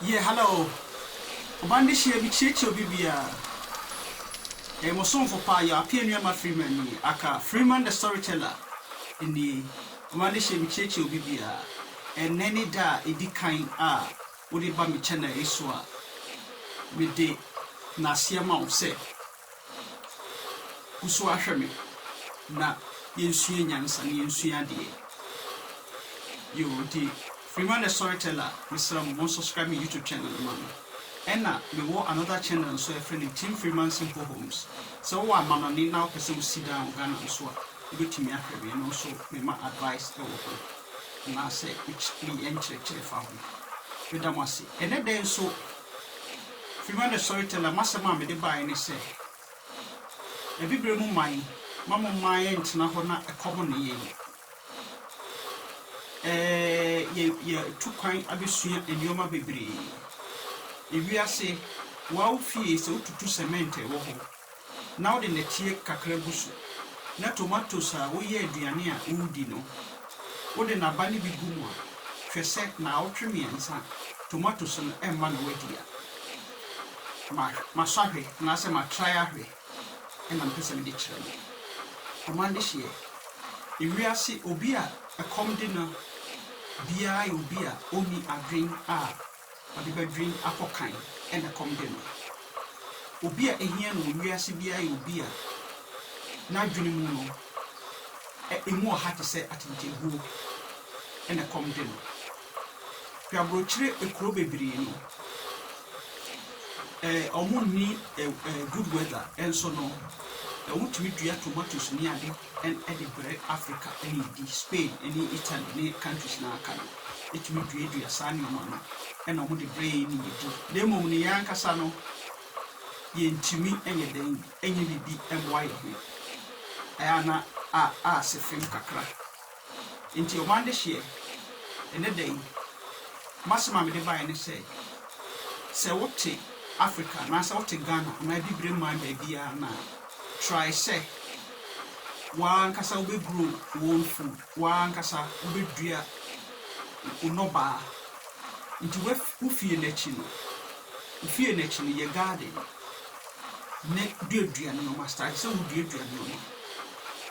Yeah hello Obande hyia bi kyeakyia obi biaa Ɛyɛ mo somfo paa your appear nuamma Freeman nie aka Freeman the storyteller nie Obande hyia bi kyeakyia obi biaa Ɛnnɛ ne da a ɛdi kan a wode ba me channel yi so a Mede naseɛ ma wo sɛ Wosu ahwɛ me na yɛnsua nyansa na yɛnsua adeɛ yoo nti Freeman the Storyteller mesrɛ mo monsubscribe me YouTube channel no ma me ɛna mewɔ another channel nso a yɛfrɛ no Tim Freeman Simple Homes sɛ wowɔ amanɔne na wopɛ sɛ wosi dan wɔ Ghana nso a wobɛtumi ahwɛ me ɛno nso mema advice wɔ ho anaasɛ me nkyerɛkyerɛ fa ho meda mo ase ɛnɛ da yi nso. Fever the Storyteller, M'asɛm a mede baeɛ ne sɛ, Abibire mu man, mma mo mmaa yɛntena hɔ na ɛkɔm nne yɛn. Ɛɛ, yɛatu kwan abɛsua nneɛma bebree. Ewiase, wo ara wo fie, sɛ wotutu sɛmɛnte a, ɛwɔ hɔ. na wode nnɛteɛ kakra gu so, na tomatoes a woyɛ aduane a woredi no, wode n'aba no bi gu mu a, hwɛ sɛ naawɔtwe mmiɛnsa tomatoes no mma na woadi a, ma, masɔ ahwɛ, anaasɛ matrae ahwɛ na mepɛ sɛ mede kyerɛ mo. Ɔman dehyeɛ. Ewiase, obi a ɛkɔm de no biara yɛ obi a ɔnni adwene a Ɔde badwin akɔ kan na ɛkɔm de no. Obi a ehia no wɔ wiase biara yɛ obi a n'adwene mu no, emu ɔha te sɛ atentenbuo na ɛkɔm de no. Hwɛ abrokyire kuro bebree no, wɔnni good weather nso no, wotumi dua tomatoes ne ade. ɛn de brɛ Africa ne di Spain ne Italy ne countries no a aka no tumi duadua saa nnoɔma no na wɔde brɛ yɛn ne yɛdi na mmom no yɛn ankasa no yɛntumi nyɛ dɛn nyɛ biribi mmoa yɛn ho ɛyɛ a na a a sɛ fam kakra. Enti ɔman dehyeɛ, ɛnɛ da yi, m'asɛm a mede baeɛ ne sɛ, sɛ wote Africa anaasɛ wote Ghana anaa Abibire man baabiara no a, try sɛ w'ankasa wobɛ grow wo own food, w'ankasa wobɛdua wo nnɔbaa. Nti w'af, wo fie no akyi no, wo fie no akyi no, yɛ garden. ne duadua nneɛma, starch, sɛ woduadua nneɛma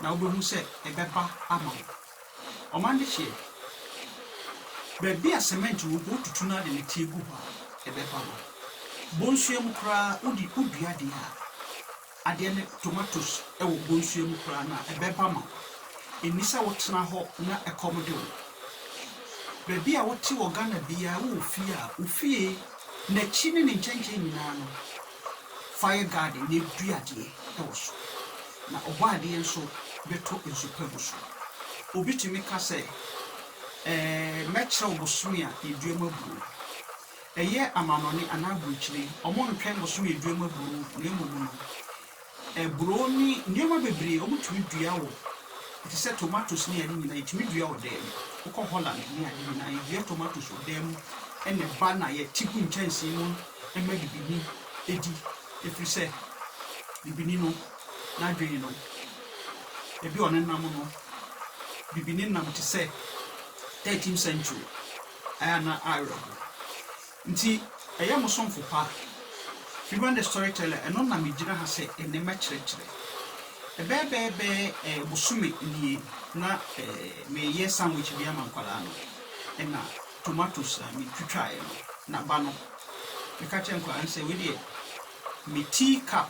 na wobɛhu sɛ ɛbɛba ama wo. Ɔman de hyeɛ, baabi a cement wɔ mpo wotutu no a de nɛteɛ gu hɔ a, ɛbɛba ma wo. Bonsua mu koraa wode wodua adeɛ a, adeɛ no, tomatoes wɔ bonsua mu koraa no a, ɛbɛba ma wo. Ɛnni sɛ wotena hɔ na ɛkɔm de wo. Baabi a wote wɔ Ghana biara wowɔ fie a, wo fie N'akyi ne ne nkyɛnkyɛn nyinaa no, fire garden na aduadeɛ wɔ so, na ɔbɔadeɛ nso bɛtɔ nsu pa agu so. Obi tumi ka sɛ, Ɛɛ, mɛkyerɛ wo bosome a yɛdua mu aburoo. Ɛyɛ amannɔne anaa aburokyire, wɔntwɛn bosome a yɛdua mu aburoo, na mmom no, Aburoo ne nneɛma bebree a wɔtumi dua wɔ te sɛ tomatoes ne ade nyinaa yɛtumi dua wɔ dan mu. Wokɔ Holland ne ade nyinaa yɛdua tomatoes wɔ dan mu na ɛba na yɛte gu nkyɛnsee mu ma bibini di ɛfiri sɛ bibini no n'adwene no baabi a ɔnenam no bibini nam te sɛ thirteen century ayɛ a na awerɛho Nti ɛyɛ mo somfo pa. Fiona the Storyteller ɛno na me gyina ha sɛ ɛnɛ mɛkyerɛkyerɛ. Ɛbɛyɛ bɛɛbɛɛ ɛɛ bosome nie na ɛɛ meyɛ sandwich bi ama nkwadaa no ɛna tomatoes a me twitwaeɛ no na ba no bɛka kyerɛ nkwadaa no sɛ wei deɛ me tea cup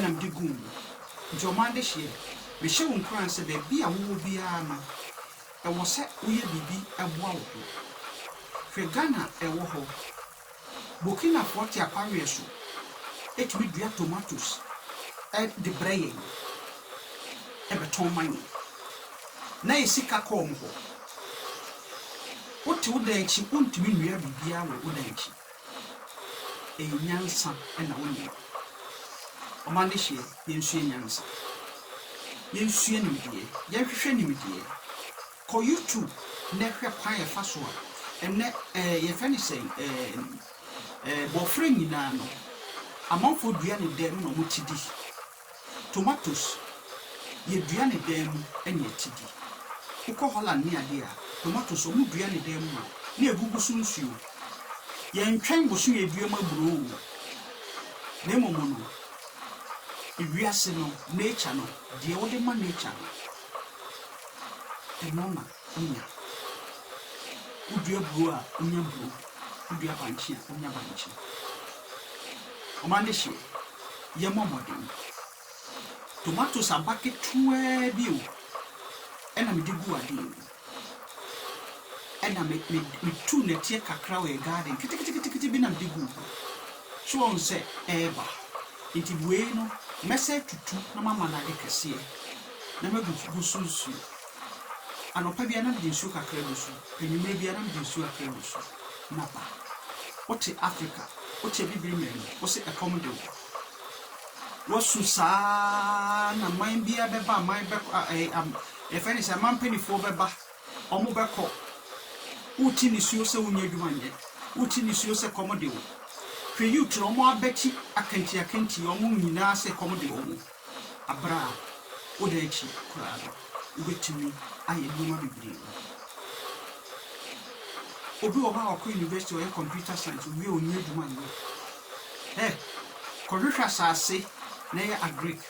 na mede guu mu, enti ɔman dehyeɛ. Mehyɛ wo nkuran sɛ baabi a wowɔ biara no, ɛwɔ sɛ woyɛ biribi boa wo ho. Hwɛ Ghana a ɛwɔ hɔ. Burkinafoɔ te akwaweɛ so tumi dua tomatoes de brɛ yɛn, bɛtɔn ma yɛn, na yɛ sika kɔ wɔn hɔ. Wote wo dan akyi, wontumi nnua biribiara wɔ wo dan akyi. Ɛyɛ nyansa na wonim. Wɔn adehyeɛ, yɛnsua nyansa. Yɛnsua nimdeɛ. Yɛnhwehwɛ nimdeɛ. Kɔ YouTube na hwɛ kwan a yɛfa so a ɛnɛ ɛɛ yɛfrɛ no sɛn ɛɛ ɛɛ bɔfra nyinaa no, amanfoɔ dua ne dɛm na wɔte di. Tomatoes yɛ dua ne dan mu ne atidi. Wokɔ Holland ne adeɛ a, tomatoes ɔmo dua ne dan mu ma wo na egugu so nsuo. Yɛntwɛn bosome aduam aburoo oo, na mmom no ewiase no, nature no, deɛ wode ma nature no, ɛno na. nya. Wodua buro a, wonya buro. Wodua bankye a, wonya bankye. Ɔman no hye o, yɛmmɔ mmɔden. Tomatoes aba ketewaa bi o, ɛna mede gu adeɛ mu. Ɛna me, me, metu nnɛteɛ kakra wɔ yɛ garden keteketekete bi na mede gu ho. So wɔn sɛ ɛreba. Nti wei no, mɛsɛ atutu na mama no ade kɛseɛ, na magu gu so nsuo. Anɔpa biara na mede nsuo kakra gu so, anwummerɛ biara na mede nsuo kakra gu so. Napa, wote Afrika, wote abibire man mu, wose ɛkɔm de wo. Woasu saa ara na man biara bɛba, aman bɛkɔ, a, ɛɛ, am, yɛfrɛ ne sɛ aman mpanimfoɔ bɛba, wɔn bɛkɔ. Wote nisuo sɛ wonyɛ adwuma nyɛ, wote nisuo sɛ ɛkɔm de wo. Hwɛ youth no, wɔn abati akantiakanti, wɔn nyinaa sɛ ɛkɔm de wɔn. Aber a oda ekyir koraa no, wobetumi ayɛ nneɛma bebree. Obi wɔ hɔ a ɔkɔ university, ɔyɛ computer science, owie a onni edwuma nnyɛ. Hɛ! Kɔhwehwɛ asaase na yɛ agric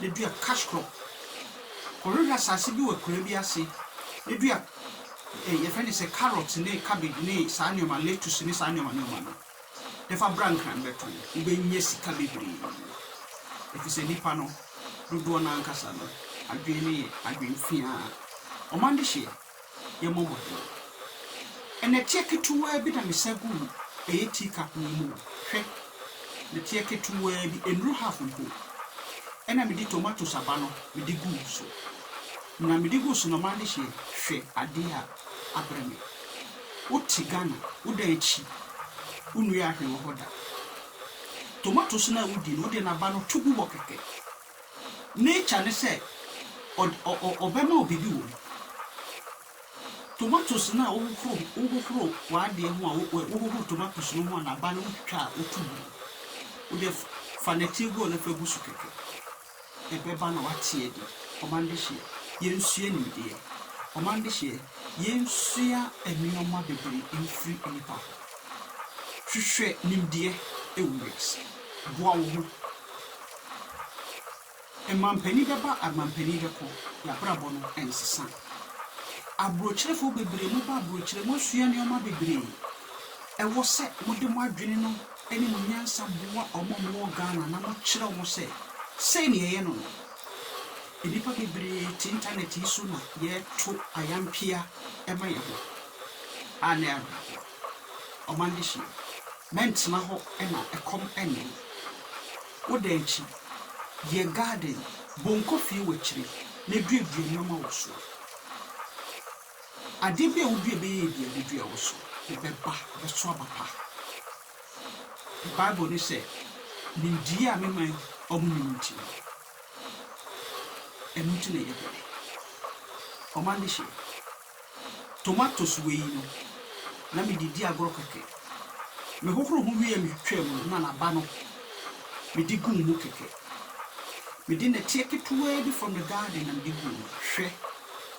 na dua cash crop. Kɔhwehwɛ asaase bi wɔ akuraa bi ase na dua, eh, yɛfrɛ no sɛ carrot ne cabbage ne saa nneɛma, lettuce ne saa nneɛma nneɛma no. Fa bra nkran bɛtɔn, wobɛnya sika bebree, efisɛ nnipa no dodoɔ no ara ankasa no adwene no yɛ adwene fiaa. Wɔn adehyeɛ yɛ mmɔbɔdeɛ. Nnɛteɛ ketewaa bi na mesa guu ɛyɛ tea cup yi mu o. Hwɛ! Nnɛteɛ ketewaa bi, ɛnnuru half mpo. Ɛnna mede tomatoes aba no mede guu so. Na mede guu so no, wɔn adehyeɛ, hwɛ adeɛ a! abrɛ me. Wo te Ghana wo da akyi wo nnua ahwee wɔ hɔ da. Tomatoes no a wo di no wo de n'aba no to gu hɔ kɛkɛ. Nature ne sɛ ɔbɛma wo biribi wɔ mu. Tomatoes no a wo hohoro wo hohoro w'adeɛ ho a wo hohoro tomatoes no ho a n'aba no wo twitwa a wo to gu no wo deɛ fa nɛteɛ guo no fa gu so kɛkɛ. Ɛbɛba na wateɛ deɛ, ɔma no dehyeɛ, yɛnsua nimdeɛ. Ɔma no dehyeɛ, yɛnsua nneɛma bebree mfiri nnipa hɔ. Hwehwɛ nimdeɛ wɔ wiase. Boa wo ho. Mampanin bɛba, mampanin bɛkɔ, y'abrabɔ no nsesa. Aburokyerefo bebree, moba aburokyerɛ, moasua nneɛma bebree. Ɛwɔ sɛ mode mo adwene no. ne mo nyansa boa wɔn a wɔwɔ Ghana na mokyerɛ wɔn sɛ sei na yɛyɛ no no. Nnipa bebree te intanɛt yi so na yɛto ayampia ma yɛn ho a na ɛyɛ awerɛhoɔ. Ɔman de hyia. Mɛntena hɔ na ɛkɔm nne me. Wo dan akyi, yɛ garden, bonko fie wɔ akyire na duadua nneɛma wɔ soɔ. Adeɛ bi a wodua bɛyɛ adua a bɛdua wo so, ɛbɛba, ɛbɛso aba pa. Bible no sɛ, Nimdeɛ a me man wɔnnim nti no, ɛno nti na ɛyɛ bɔne. Ɔma no hye. Tomatoes wei yi no, na mede di agorɔ kɛkɛ. Mehohoro ho wie a metwitwaa mu no, na n'aba no, mede guu mu kɛkɛ. Mede nnɛteɛ ketewaa bi from the garden na mede guu mu. Hwɛ!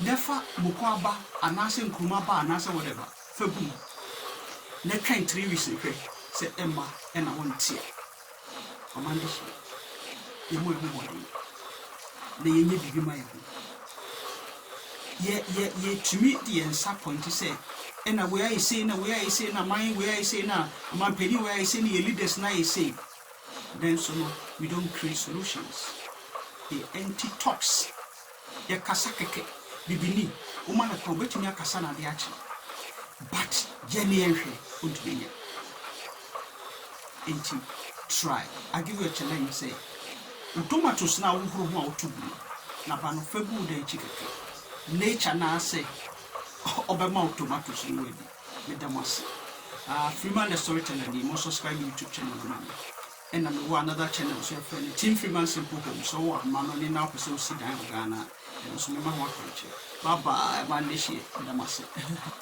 na fa mokoa ba anaasɛ nkruma ba anaasɛ whatever fa gu mu na twɛn three weeks na hwɛ sɛ ɛmma na wonteɛ. Ɔman bi hye, yɛmmɔ yɛn ho mmɔden na yɛnyɛ biribi mma yɛn ho. Yɛ yɛ yɛtumi de yɛn nsa pɔinte sɛ ɛna wei ayɛ sei na wei ayɛ sei na aman wei ayɛ sei na amanpanin wei ayɛ sei na yɛn leaders no ayɛ sei. Nanso no we don't create solutions, they empty talks. Yɛkasa kɛkɛ, bibini, woma no kwan, obɛtumi akasa na adeɛ akye but yɛ ne yɛnhwɛ, wontumi nyɛ nti try, I give you a challenge sɛ wo tomatoes no a wohoro ho a woto gu no na ba no fa gu wo dan akyi kakra, nature no ara sɛ ɔbɛma wo tomatoes no woadi. Meda mo ase. Aah Freeman the Storyteller nie, mo subscribe me YouTube channel no ma me. Ɛna mewɔ another channel nso yɛfrɛ no Tim Freeman Simple Home sɛ ɔwɔ ahoma no ne na wopɛ sɛ wosi dan wɔ Ghana a ɛno nso mɛma ho akwankyerɛ. Bye bye, Monday hyia, meda mo ase.